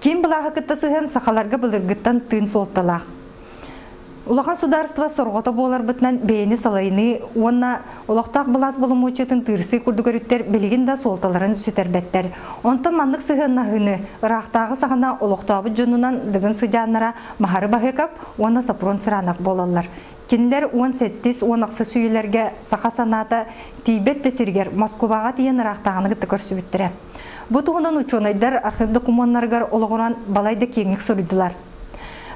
Киин былааһы кытта сыһан сахаларга былыргыттан тыын суолталаах. Улахан судаарство сорҕото буоларбытынан бэйэни салайыныы уонна олохтоох былаас боломуочуйатын тыырсыы курдук өрүттэр билигин да суолталарын сүтэрбэттэр. Онтон маннык сыһыаннаһыыны ыраахтааҕы саҕана олохтообут дьонунан Дыгын сыдьааннара Маһары Баһыкап уонна Сопрон Сыранов буолаллар. Кинилэр уон сэттис уон ахсыс үйэлэргэ саха санаата тиийбэт да сиригэр Москубаҕа тиийэн ыраахтааҕыны кытта көрсүбүттэрэ. Бу туһунан учуонайдар архив докумуоннарыгар олоҕуран балай да киэҥник суруйдулар.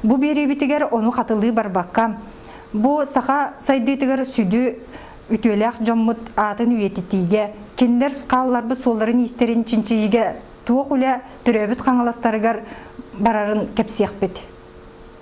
Бу биэриибитигэр ону хатылыы барбакка, бу саха сайдыытыгар сүдү үтүөлээх дьоммут аатын үйэтитиигэ, кинилэр скалларбыт суолларын-иистэрин чинчийиигэ туох үлэ төрөөбүт хаҥаластарыгар барарын кэпсиэхпит.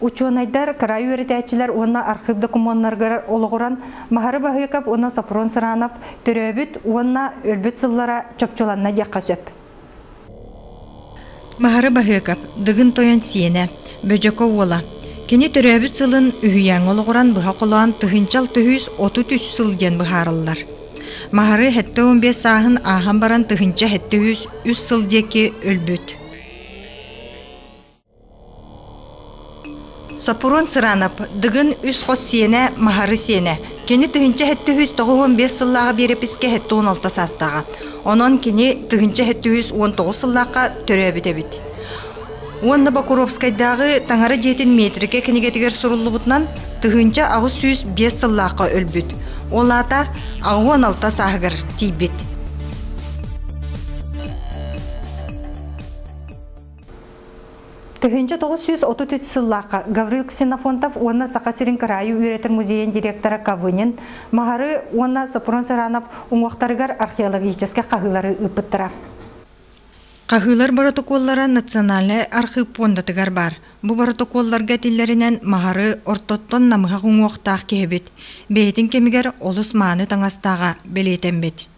Учуонайдар, кыраай үөрэтээччилэр уонна архыып докумуоннарыгар олоҕуран Маһары Баһыыкап уонна Сопрун Сыранов төрөөбүт уонна өлбүт сыллара чопчуланна диэххэ сөп. Маһары Баһыыкап, Дыгын Тойон сиэнэ, Бөдьөкө уола. Кини төрөөбүт сылын үһүйээҥҥэ олоҕуран быһа холоон тыһынчал түһүүс отут үс сыл диэн быһаарыллар. Маһары хэттэ он биэс сааһын ааһан баран тыһынча хэттэ үс үс сыл диэки өлбүт. Соппуруон Сыранап, Дыгын үс хос сиэнэ Маһары сиэнэ. Кини тыһыынча сэттэ үһүс тоҕус уон биэс сыллааҕы биэрэпискэ сэттэ уон алта саастааҕа. Онон кини тыһыынча сэттэ үһүс уон тоҕус сыллаахха төрөөбүт эбит. Уонна Бокуровскайдааҕы Таҥара дьиэтин метрикэ кинигэтигэр суруллубутунан тыһыынча аҕыс сүүс биэс сыллаахха өлбүт. Ол аата аҕыс уон алта сааһыгар тиийбит. Тыһыынча тоҕус сүүс отут үс сыллаахха Гаврил Ксенофонтов уонна Саха сирин кыраайы үөрэтэр музейын директора Кавынин Махары уонна Сопрун Саранов уҥуохтарыгар археологическай хаһыылары ыыппыттара. Хаһыылар боротокуоллара Национальнай архыып пуондатыгар баар. Бу боротокуолларга этиллэринэн Махары ортоттон намыһах уҥуохтаах киһи эбит. Бэйэтин кэмигэр олус мааны таҥастааҕа бэлиэтэммит.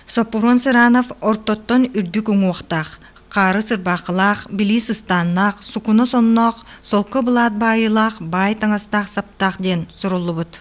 Соппуруон Сыранов ортоттон үрдүк уҥуохтаах, хаары сырбаахылаах, билии сыстааннаах, сукуна сонноох, солко былаат баайыылаах, баай таҥастаах-саптаах диэн суруллубут.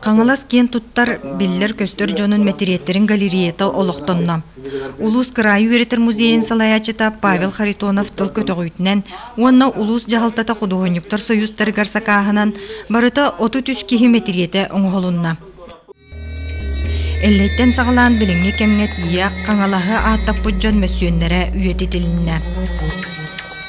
Хаҥалас киэн туттар, биллэр-көстөр дьонун мэтириэттэрин галереята олохтонно. Улуус кыраайы үөрэтэр музейын салайааччыта Павел Харитонов тыл көтөҕүүтүнэн уонна улуус дьаһалтата худуоһунньуктар союзтарыгар сакааһынан барыта отут үс киһи мэтириэтэ оҥоһулунна. Эллэйтэн саҕалаан билиҥҥи кэмҥэ тиийэ Хаҥалаһы ааттаппыт дьон мөссүөннэрэ үйэтитилиннэ.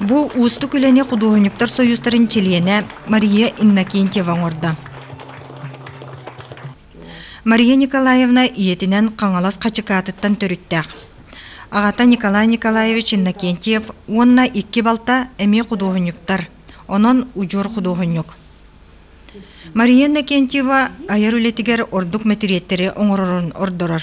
Бу уустук үлэни худуоһунньуктар сойуустарын чилиэнэ Мария Иннокентьева оҥордо. Мария Николаевна ийэтинэн Хаҥалас Хачыкаатыттан төрүттээх. Аҕата Николай Николаевич Иннокентьев уонна икки балта эмиэ худуоһунньуктар, онон удьуор худуоһунньук. Мария Иннокентьева айар үлэтигэр ордук мэтириэттэри оҥорорун ордорор.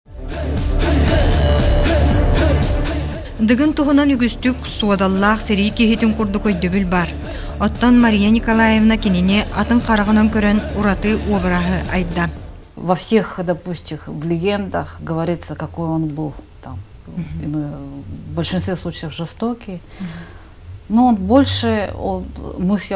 Дыгын туһунан үгүстүк суодаллаах сэрии киһитин курдук өйдөбүл баар. Оттон Мария Николаевна кинини атын хараҕынан көрөн ураты обраһы айда. Во всех, допустим, в легендах говорится, какой он был там. В большинстве случаев жестокий. Но он больше, он, мысль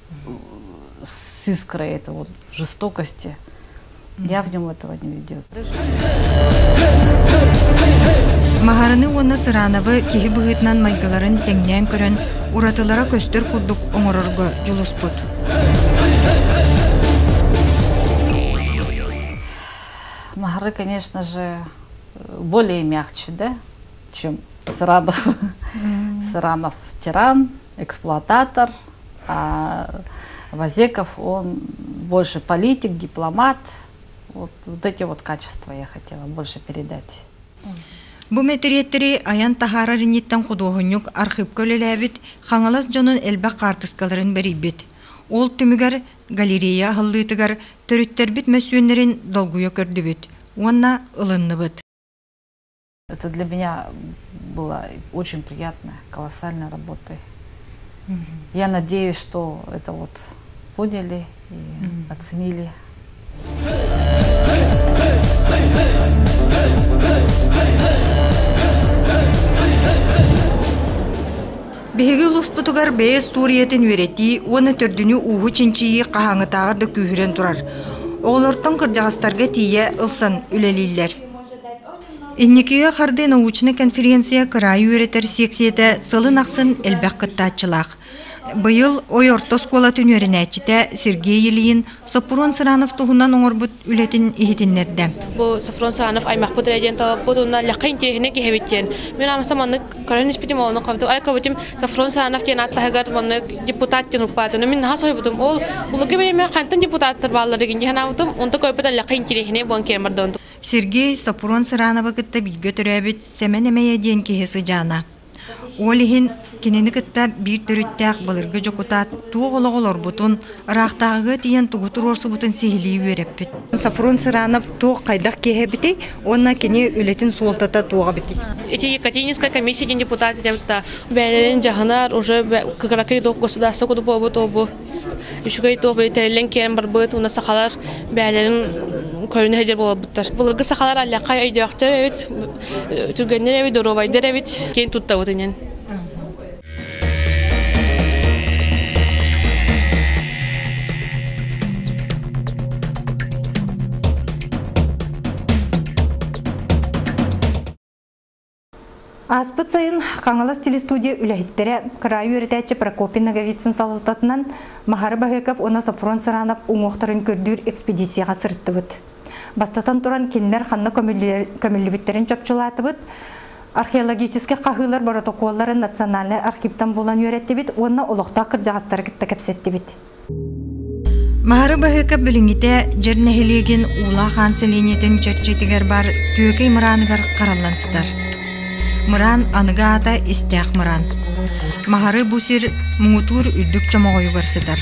с искрой этого вот жестокости. Я в нем этого не видела. Маһарыны уонна Сырановы киһи быһыытынан майгыларын тэҥнээн көрөн, уратылара көстөр курдук оҥорорго дьулуспут. Маһары, конечно же, более мягче, да, чем Сыранов. Сыранов тиран, эксплуататор, Вазеков, он больше политик, дипломат. Вот, вот эти вот качества я хотела больше передать. Бу мэтириэттэри айан таһаарар инниттэн худуоһунньук архыыпка үлэлээбит Хаҥалас дьонун элбэх хаартыскаларын бэрийбит. Ол түмүгэр галерея аһыллыытыгар төрүттэрбит мөссүөннэрин долгуйа көрдүбүт уонна ылынныбыт. Это для меня было очень приятно, колоссальной работой. Я надеюсь, что это вот поняли и оценили. Биһиги улуспутугар бэйэ суриятын үөрэтии уонна төрдүнү ууһу чинчийии хаһаҥытааҕар да күүһүрэн турар. Оҕолортон кырдьаҕастарга тиийэ ылсан үлэлииллэр. Инникигэ хардыы научнай конференция кыраайы үөрэтэр сиэксийэтэ сылын ахсын элбэх кыттааччылаах. Быйыл Ой орто оскуолатын үөрэнээччитэ Сергей Ильин Соппурун Сыранов туһунан оҥорбут үлэтин иһитиннэрдэ. Бу Софрон Сыранов аймахпыт эрэ диэн талаппыт уонна лэххэ интиэһинэ киһибит диэн. Мин амса маннык көрөн испитим олону хобутум ай кобутум Софрон Сыранов диэн аат таһыгар маннык депутат диэн укпаатыны мин наха соһуйбутум. Ол булуга билиме хантан депутаттар бааллар дигин диһанаабытым. Онто көйпөт лэххэ интиэһинэ буон киэрмэрдон Сергей Сопрун Сырановы кытта бииргэ төрөөбүт Сэмэн Эмэйэ диэн киһи сыдьаана. Ол иһин кинини кытта биир төрүттээх былыргы дьокутаат туох олох олорбутун, ыраахтааҕыга тиийэн тугу туруорсубутун сиһилии үөрэппит. Сафрун Сыранов туох хайдах киһи эбитий уонна кини үлэтин суолтата туох эбитий? Эти Екатерининская комиссия диэн депутат этэ бэйэлэрин дьаһанар уже кыракый государство куту буолбут обу үчүгэй туоһу тэриллэн киирэн барбыт уонна сахалар бэйэлэрин көрүнэ сылдьар буолбуттар. Былыргы сахалар аллахха өйдөөхтөр эбит, түргэннэр эбит, доруобайдар эбит, киэн туттабыт инен. Ааспыт сайын Хаҥалас телестудия үлэһиттэрэ, кыраайы үөрэтээччи Прокопий Ноговицын салалтатынан Маһары Баһыыкап уонна Сопрун Сыранап уҥуохтарын көрдүүр экспедицияҕа сырыттыбыт. Бастатан туран, кинилэр ханна көмүллүбүттэрин чопчулаатыбыт. Археологический хаһыылар боротокуолларын национальнай архивтан булан үөрэттибит уонна олохтоох кырдьаҕастары кытта кэпсэттибит. Маары Баһыыкап билиҥҥитэ Дьэр нэһилиэгин Уулаах Аан сэлиэнньэтин чэрчитигэр бар Түөкэй мырааныгар хараллан сытар. Мыраан аныгы аата истээх мыраан. Маары бу сир муҥутуур үрдүк чомоҕойугар сытар.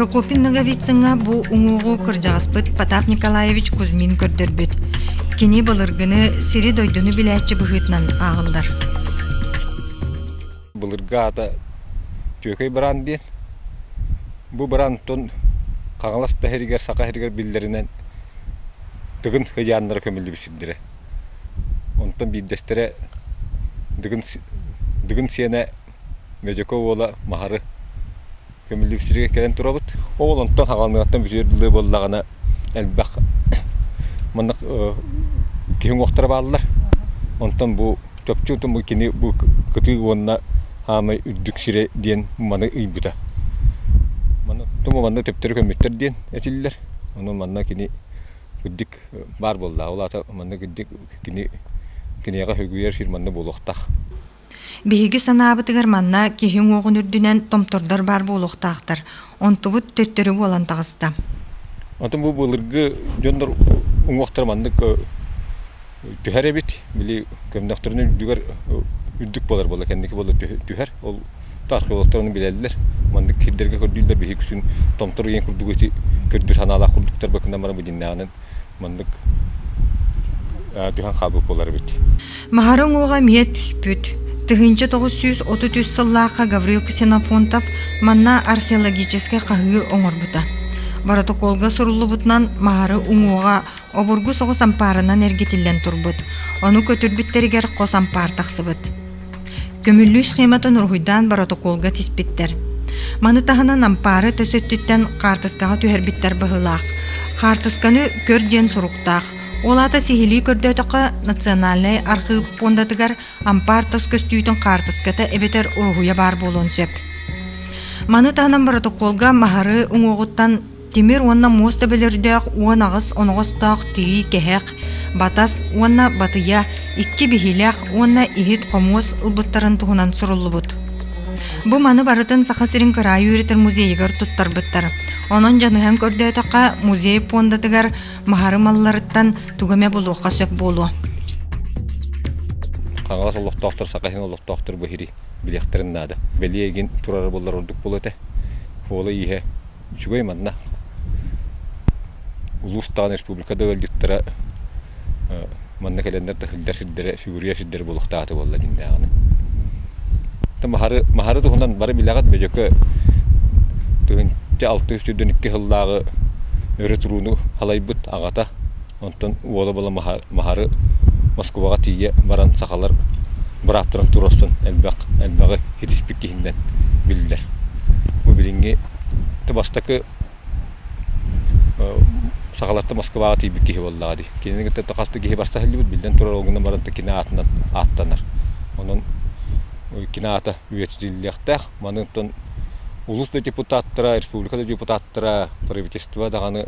Прокопин Ноговицынга бу уңуоҕу кырдьаҕаспыт Потап Николаевич Кузьмин көрдөрбүт. Кини былыргыны сири-дойдуну билээччи быһыытынан ааҕыллар. Былыргы аата Түөкэй быраан диэн. Бу быраантан Хаҥалас таһырыгар, Саха сиригэр биллэринэн Дыгын ыйааннара көмүллүбүт сирдэрэ. Онтон биирдэстэрэ Дыгын Дыгын сиэнэ Медьяков уола Маһары Көмүллүксүргэ кэлэн турабыт. Ол онтон хаҕаныгаттан бүтүөр былы буоллаҕына элбэх маннык киһи уҥуохтара бааллар. Онтон бу чопчу отон бу кини бу кытыы уонна аамай үрдүк сирэ диэн маны ыйбыта. Маны оттон манна төптөрү көмүттэр диэн этиллэр. Ону манна кини үрдүк баар буоллаҕа. Ол аата манна үрдүк кини киниэхэ хөгүйэр сир манна буолуохтаах. Биһиги санаабытыгар манна киһи уҥуоҕун үрдүнэн томтордор баар буолуохтаахтар, онтубут төттөрү буолан таҕыста. Онтон бу былыргы дьоннор уҥуохтара маннык түһэр эбит. Били көмнөхтөрүнэ үрдүгэр үрдүк буолар буолла, кэнники буолла түһэр. Ол археологтар ону билэллэр. Маннык сирдэргэ көрдүүллэр биһиги күн томтор еҥ курдук эти көрдүүр санаалаах курдуктар быкынам бары бу дьиннэҕинэн маннык түһэн хаалбыт буолар эбит. Маһара уҥуоҕа эмиэ түспүт. Тыһыынча тоҕус сүүс отут үс сыллаахха Гаврил Ксенофонтов манна археологическай хаһыы оҥорбута. Боротокуолга суруллубутунан маһары уҥуоҕа обургу соҕус ампаарынан эргитиллэн турбут. Ону көтүрбүттэригэр хос ампаар тахсыбыт. Көмүллүү схематын уруһуйдаан боротокуолга тиспиттэр. Маны таһынан ампаара өтөс өттүттэн хаартыскаҕа түһэрбиттэр быһыылаах. Хаартысканы көр диэн суруктаах. Ол аата сиһилии көрдөөтөххө, Национальнай архыып пуондатыгар ампаар тос көстүүтүн хаартыската эбэтэр уруһуйа баар буолуон сөп. Маны таһынан боротокуолга маһары уҥуоҕуттан Тимир уонна муос төбөлөрдөөх уон аҕыс оноҕостоох тирии кэһэх, батас уонна батыйа икки биһилэх уонна иһит-хомуос ылбыттарын туһунан суруллубут. Бу маны барытын Саха сирин кыраайы үөрэтэр музейыгар туттарбыттар. Онон дьаныһан көрдөөтөххө, музей пуондатыгар маһары малларыттан тугу эмэ булуохха сөп буолуо. Хаҥалас олохтоохтор Саха сирин олохтоохтор бу бириэхтэрин наада. Бэлиэ игин турары буллар ордук буолуо этэ. Уола ииһэ Үчүгэй манна. Улуус даҕаны республика да ыалдьыттара манна кэлэннэр таһырдьа сирдэрэ, сүгүрүйэ сирдэрэ буолуохтаахата буолла дьиҥнээҕинэ. Маһары, маһары туһунан бары билэҕит Бөдьөкө тыһыынча алтыс сүүрдэн икки сыллааҕы өрө турууну халайбыт аҕата Онтон уола-буола Маһары Москубаҕа тиийэ баран сахалар бырааптарын туруорсан элбэх элбэҕи итиспит киһинэн биллэр. Бу билиҥҥи бастакы сахалартан Москваҕа тиийбит киһи буоллаҕа дии. Кинини кытта хас да киһи барса иһиллибит, биллэн турар олгунна баран кинэ аатынан ааттанар. Онон кино аата үйэтитиллиэхтээх. Маныттан улус да депутаттара, республика да депутаттара, правительство даҕаны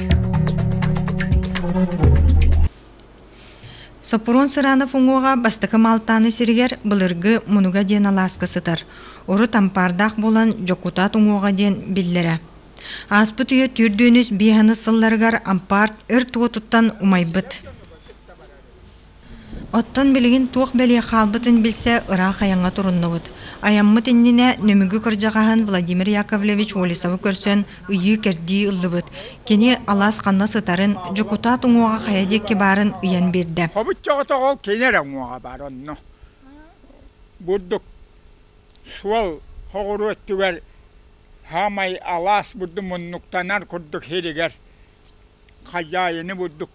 Соппуруон Сыранов уҥуоҕа бастакы Малтааны сиригэр былыргы Мунуга диэн алааска сытар. Урут ампаардаах буолан Дьокутаат уҥуоҕа диэн биллэрэ. Ааспыт үйэ түүрдүүнүс биэһэнис сылларыгар ампаарт өрт уотуттан умайбыт. Оттон билигин туох бэлиэ хаалбытын билсэ ыраах айаҥҥа туруннубут. Айаммыт иннинэ Нөмүгү кырдьаҕаһын Владимир Яковлевич Волисовы көрсөн ыйыы-кэрдии ыллыбыт. Кини алаас ханна сытарын, дьокутаат уҥуоҕа хайа диэки баарын ыйан биэрдэ. Хомуччоҕото ол кини эрэ уҥуоҕа баар онно. Бурдук суол хоҕуру өттүгэр саамай алаас бурдук муннуктанар курдук сиригэр хозяины бурдук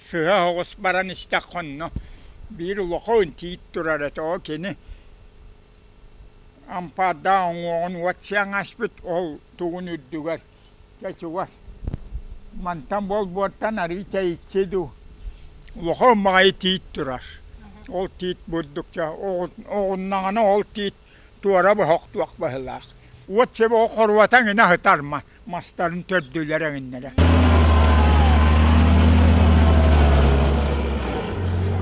сыа оҕус баран истэххэ онно биир улахан тиит турар этэ ол кини ампаардаах уҥуоҕун уот сиэн аспыт ол тугун үрдүгэр дьэ чугас мантан буолбуоттан арыы тэйиччи дуу улахан маҕайы тиит турар ол тиит бурдук чэ оҕуннаҕына ол тиит туора боһох туох баһылаах, уот чебоҕу хоруота эҥинэ аһытарма, мастарын төрдүлэр-эҥиннэрэ.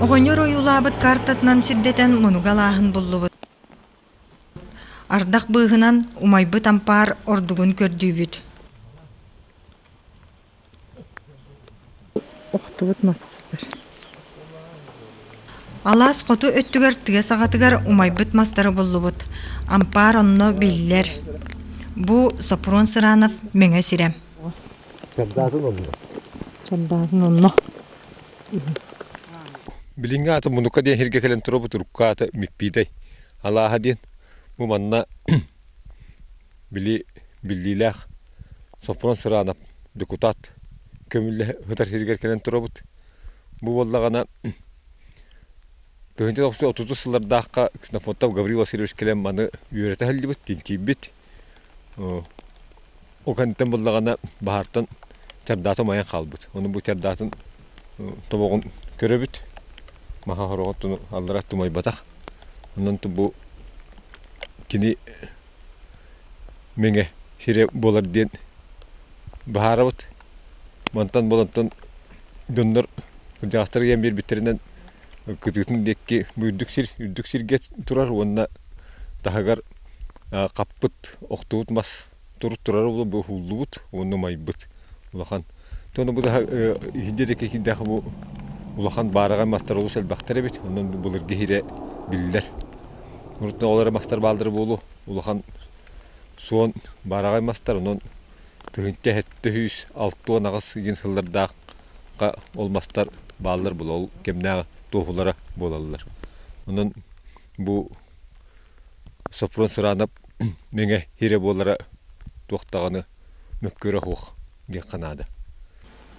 Оҕонньор ойуулаабыт картатынан сирдэтэн мунуга алааһын буллубут. Ардах быыһынан умайбыт ампаар ордугун көрдүүбүт. Алаас хоту өттүгэр тыа саҕатыгар умайбыт мастары буллубут. Ампаар онно биллэр. Бу Сопрун Сыранов Мэҥэ сирэ. Чардаатын онно. Билиҥҥи ааты мунукка диэн сиргэ кэлэн тура бу турукка аата Миппиитэй. Алааһа диэн бу манна били биллиилээх Сопрун Сыраанап дьокутаат көмүллэһэ сытар сиригэр кэлэн турабыт. Бу буоллаҕына тыһыынча тохсус отутус сыллардаахха Ксенофонтов Гаврил Васильевич кэлэн маны үөрэтэ сылдьыбыт, тинтийбит. Ол кэнниттэн буоллаҕына баһаартан чардааты умайан хаалбыт. Ону бу чардаатын тобоҕун көрөбүт. Маһа хороҕот ону аллара тумайбатах. Онон бу кини Миҥэ сирэ буолар диэн быһаарабыт. Мантан буолантан дьоннор кырдьаҕастар ийэм биэрбиттэринэн кытыытын диэки үрдүк сир үрдүк сиргэ турар уонна таһыгар хаппыт охтубут мас турук турара буолуо бу уһуллубут уонна умайбыт улахан Ону бу да иһинде да кирдээх бу улахан баараҕай мастар олус элбэхтэр эбит. Онон бу былыргы иһирэ биллэр. Урутна ол эрэ мастар баалдара буолуо улахан суон баараҕай мастар онон тыһыынча сэттэ сүүс алта уон аҕыс диэн сыллардаахха ол мастар бааллар була ол кэмнээх туоһулара буолаллар. Онон бу Сопрун Сыраанап Мэҥэ иһирэ буолара туох даҕаны мөккүөрэ оһуох диэххэ наада.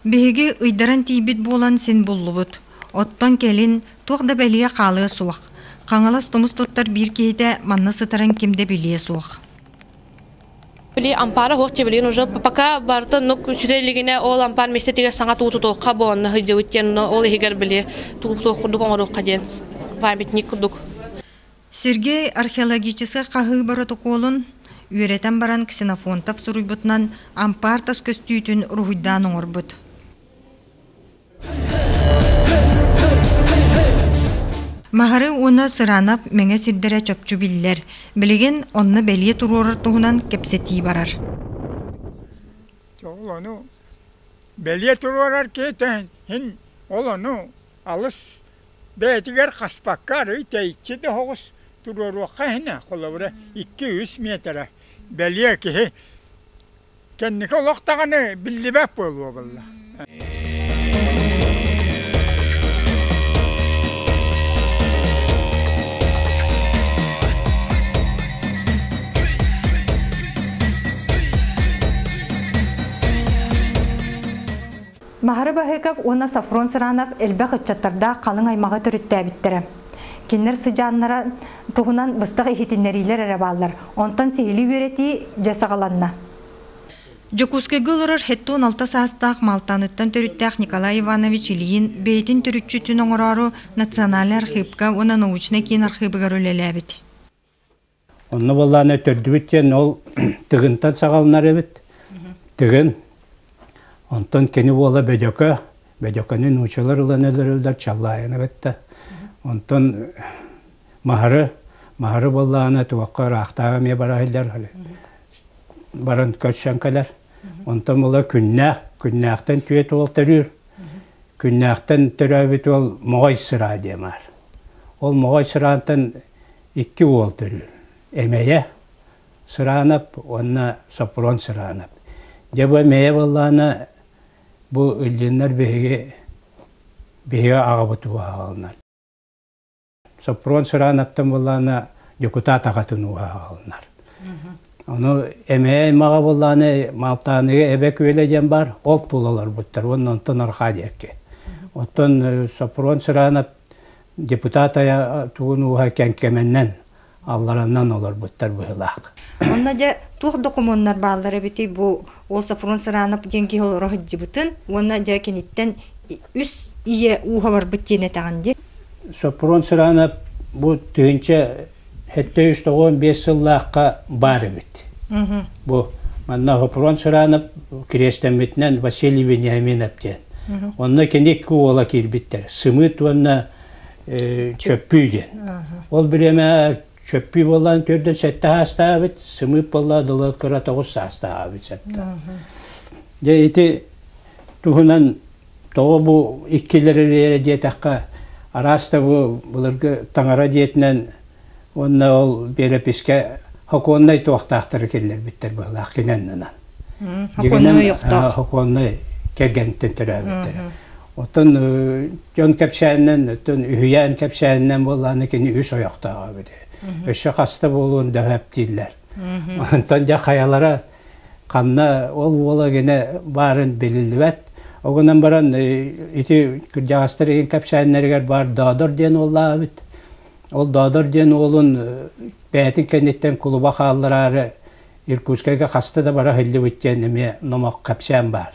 Биһиги ыйдаран тиийбит буолан син буллубут. Оттон кэлин туох да бэлиэ хаалыа суох. Хаҥалас тумус туттар биир киһитэ манна сытарын ким да билиэ суох. Били ампаара оһуох дьэбилин уже пока барыта нук үчүрэ илигинэ ол ампаар миэстэтигэр саҥа туу тутуохха буонна сыдьыбыт диэн ол иһигэр били туу туох курдук оҥоруохха диэн памятник курдук Сергей археологическай хаһыы боротокуолун үөрэтэн баран Ксенофонтов суруйбутунан ампаартас көстүүтүн уруһуйдаан оҥорбут. Маһары уонна Сыранап мэҥэ сирдэрэ чопчу биллэр. Билигин онно бэлиэ туруорар туһунан кэпсэтии барар. Ол ону бэлиэ туруорар киһитин син ол ону алыс Бэйэтигэр хаспакка арыый тэйиччи да оһоҕус туруоруохха иһинэ, холобура, икки-үс миэтэрэ. Бэлиэ киһи кэнники олох даҕаны биллибэт буолуо буолла. Маһары Баһыыкап уонна Софрон Сыранов элбэх ыччаттардаах халыҥ аймаҕы төрүттээбиттэрэ. Кинилэр сыдьааннара туһунан быстах иһитиннэриилэр эрэ бааллар, онтон сиһилии үөрэтии дьэ саҕаланна. Дьокуускайга олорор сэттэ уон алта саастаах Малтаныттан төрүттээх Николай Иванович Ильин бэйэтин төрүччү түн оҥороору Национальнай архыыпка уонна научнай киин архыыбыгар үлэлээбит. Онно буоллааны төрдүбүт диэн ол тыгынтан саҕаланар эбит. Тыгын онтон кини буола Бөдьөкө, Бөдьөкөнү нуучалар ылан өлөрөллөр Чаллаайаны кытта. Онтон Маһары, Маһары буоллааны туохха ыраахтааҕы эмиэ бараһыллар баран көрсөн кэлэр. Онтон буола күннээх, күннээхтэн түөт уол төрүүр. Күннээхтэн төрөөбүт уол Моҕой сыра диэн баар. Ол Моҕой сыраантан икки уол төрүүр. Эмэйэ Сыраанап уонна Сопрун Сыраанап. Дьэ бу эмэйэ буоллаҕына бу иллиннэр биһиги биһиги аҕабыт ууһаҕалынар. Сопрун Сыраанаптан буоллаҕына дьокутаат аҕатын ууһаҕалынар. Ону эмээ аймаҕа буоллаҕына Малтааныга эбэ күөлэ диэн баар, ол тула олорбуттар уонна онтон арҕаа диэки. Оттон Сопрун Сыраанап Депутат тугун ууһа кэҥкэмэннэн, аллараннан олорбуттар быһылаах. Онно дьэ туох докумуоннар бааллар эбитий бу ол Сафрон Сыранов диэн киһи олоро сылдьыбытын уонна дьэ киниттэн үс ийэ ууһа барбыт диэн этэҕин дии? Сафрон Сыранов бу тыһыынча Сэттэ үс тоҕуон биэс сыллаахха баар эбит. Бу манна Хопрос Ширанов кириэстэммитинэн Василий Вениаминов диэн. Онно кини икки уола киирбиттэр. Сымыыт уонна Чөппүү диэн. Ол бириэмэ Чөппүү буоллан төрдөн сэттэ саастаабыт, Сымыыт буолла долор кыра тоҕус саастаабыт сэттэ. Дьэ ити туһунан Тоҕо бу иккилэр эрийэрэ диэтэххэ, араас да бу былыргы таҥара дьиэтинэн уонна ол биэрэпискэ хокуоннай туохтаахтары киллэрбиттэр быһылаах кинэннынан. Хокуоннай ойохтоох. Хокуоннай кэргэнтэн төрөөбүттэрэ. Оттон дьон кэпсээнинэн, оттон үһүйээн кэпсээнинэн буоллааны кини үс ойохтоох эбит. Өссө хаста буолуон да эптииллэр. Онтон дьэ хайалара ханна ол уола гинэ баарын билиллибэт Ол гынан баран ити кырдьаҕастар иһин кэпсээннэригэр баар Доодор диэн уоллаабыт. Ол Доодор диэн уолун бэйэтин кэнниттэн кулуба хааллараары Иркутскайга хаста да бара иһиллибит диэн эмиэ номох кэпсээн баар.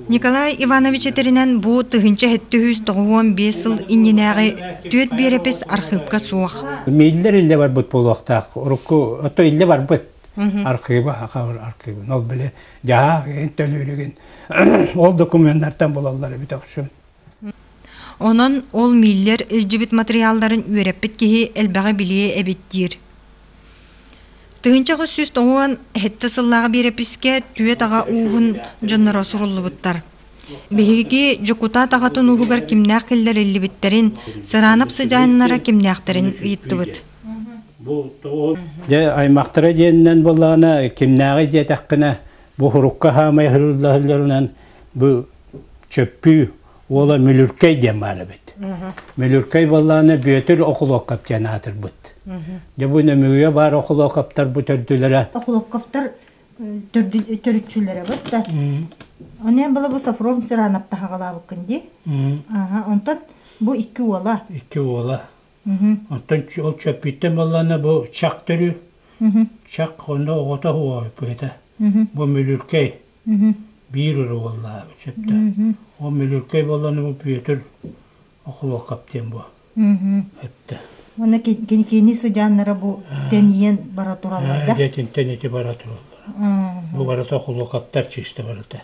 Николай Иванович этэринэн, бу тыһыынча сэттэ сүүс тоҕус уон биэс сыл иннинээҕи түөрт биэрэпис архыыпка суох. Мииллэр иллэ барбыт буолуохтаах. Урукку ото иллэ барбыт. Архыыба, хабыр архыыба. Ол били дьаһаа эн төлүүрүгүн. Ол документартан булаллар эбит охсун. Онон ол мииллэр илдьибит матырыйаалларын үөрэппит киһи элбэҕи билиэ эбит диир. Тыһыынча хос сүүс тоҕуон сэттэ сыллааҕы биэрэпискэ түөрт аҕа ууһун дьонноро суруллубуттар. Биһиги дьокутаат аҕатын ууһугар кимнээх киллэриллибиттэрин, сыраанап сыдьааннара кимнээхтэрин ыйыттыбыт. Дьэ, аймахтара диэнинэн буоллаҕына, кимнээҕи диэтэххинэ, Бу урукка хаамай ыһылларынан бу чөппүү уола Мүлүркэй диэн баар эбит. Мүлүркэй баллааны Бүөтүр Окулоков диэн аатырбыт. Дьэ бу нөмүгүе баар Окулоковтарбыт өрдүлэрэ. Окулоковтар төрүччүлэрэ бут да. Онен было бу Софрон Цыранов таһагалаабыккын ди. Ага, онтон бу икки уола. Икки уола. Оттон ол чөппүттэн буоллаҕына бу чах төрү. Чах онно оҕото уоһа быһыта. Бу мүлүркэй. Биир өрө буоллаҕа сөптөөх. Ол мүлүркэй буоллаҕына бу Бүөтүр Охлокоп диэн бу. Эттэ. Уонна кини сыдьааннара бу тэнийэн бара тураллар да? Дьэтинтэн ити бара тураллар. Бу барыта Охлокоптар чыыста барыта.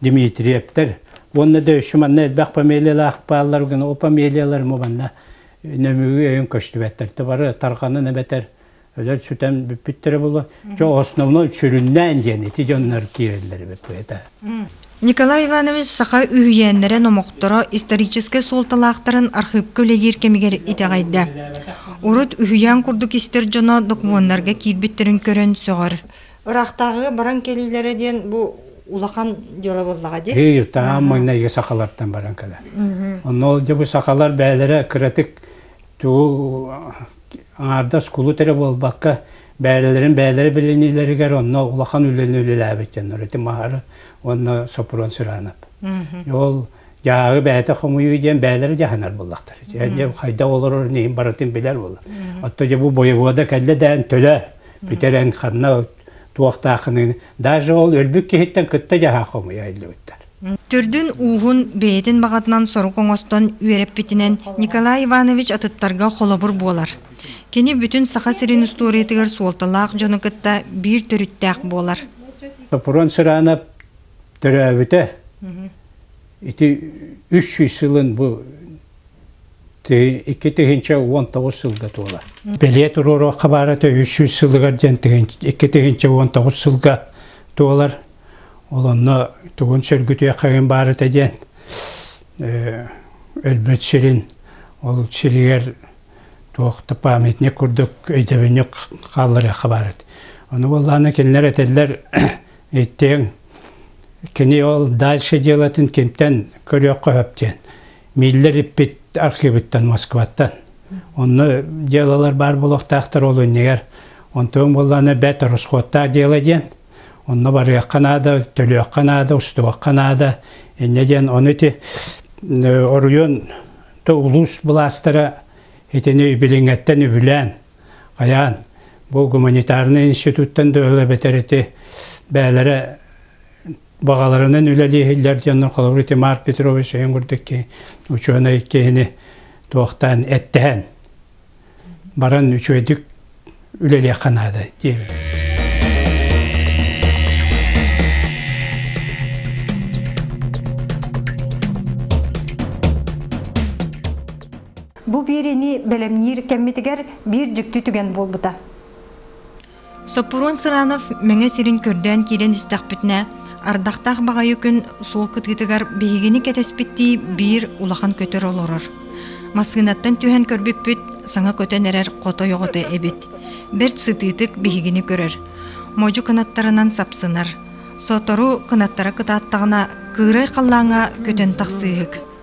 Дмитриевтэр уонна да үчү манна элбэх фамилиялаах бааллар гына о фамилияларым убанна нөмүгү өйүн көстүбэттэрте бары тарханын эбэтэр өлөр сүтэн бүппүттэрэ була жо основно сүрүннээн диэн ити дьоннор киирэллэри бөтуэта Николай Иванович саха үһүйээннэрэ номохторо историческай суолталаахтарын архыыпка үлэлиир кэмигэр итэҕэйдэ. Урут үһүйээн курдук истэр дьоно докумуоннарга киирбиттерин көрөн сөҕөр. Ыраахтааҕыга баран кэлиилэрэ диэн бу улахан дьыала буоллаҕа дии. Ии, таһаан майнайга сахалартан баран кэлэр. Онно ол бу сахалар бэйэлэрэ кыратык тугу аҥаардас кулут эрэ буолбакка, бэйэлэрин бэйэлэрэ билиниилэригэр онно улахан үлэни үлэлээбит дьоннор ити Маара уонна Сопрун Сыраанап. Ол дьааһы бэйэтэ хомуйуу диэн бэйэлэрэ дьаһанар буоллахтар. Дьэ хайдах олорор иһин барытын билэр буолар. Оттон дьэ бу бойобуода кэллэ дээн төлө бүтэрэн ханна туохтааххыны даже ол өлбүт киһиттэн кытта дьаһаа хомуйайдыбыттар. Төрдүн ууһун бэйэтин баҕатынан сорук оҥостон үөрэппитинэн Николай Иванович атыттарга холобур буолар. Кини бүтүн Саха сирин устуоруйатыгар суолталаах дьону кытта биир төрүттээх буолар. Сопрун Сыраанап төрөөбүтэ ити үс сүүс сылын бу икки тыһыынча уон тоҕус сылга туола. Бэлиэ туруоруохха баара үс сүүс сылыгар диэн икки тыһыынча уон тоҕус сылга туолар. Ол онно тугун сөргүтүөххэгин баарыта диэн өлбөт сирин ол сиригэр туох да памятник курдук өйдөбүнньүк хаалларыахха баарыт. Ону буоллааны кинилэр этэллэр иттиэҥ кини ол дальше делатын кимтэн көрүөххэ хөп диэн Миллер-иппит архивыттан, Москваттан. Онно делалар баар буолуохтаахтар ол иннигэр. Онтон буоллаана бэт расходтаах дело диэн. Онно барыахха наада, төлүөххэ наада, устубахха наада. Иннэ диэн ону ити оройуон улуус былаастара итини билиҥэттэн үбүлээн, хайаан бу гуманитарный институттан дөлө бэтэр ити бээлэрэ баҕаларынан үлэлиэһиллэр дьон холобур Итимар Петрович өйүн курдук учуонай киһини туохтаан эттэһэн баран үчүөйдүк үлэлиэххэ наада диэбит. Бу биэриини бэлэмниир кэммитигэр биир дьикти түгэн буолбута. Соппуруон Сыранов Мэҥэ сирин көрдөөн киирэн истэхпитинэ, ардахтаах баҕайы күн суол кытыытыгар биһигини кэтэспиттии биир улахан көтөр олорор. Массыынаттан түһэн көрбүппүт саҥа көтөн эрэр хотой оҕото эбит. Бэрт сытыытык биһигини көрөр. Модьу кынаттарынан сапсынар. Сотору кынаттара кытааттаҕына кыырай халлааҥҥа көтөн тахсыыһык.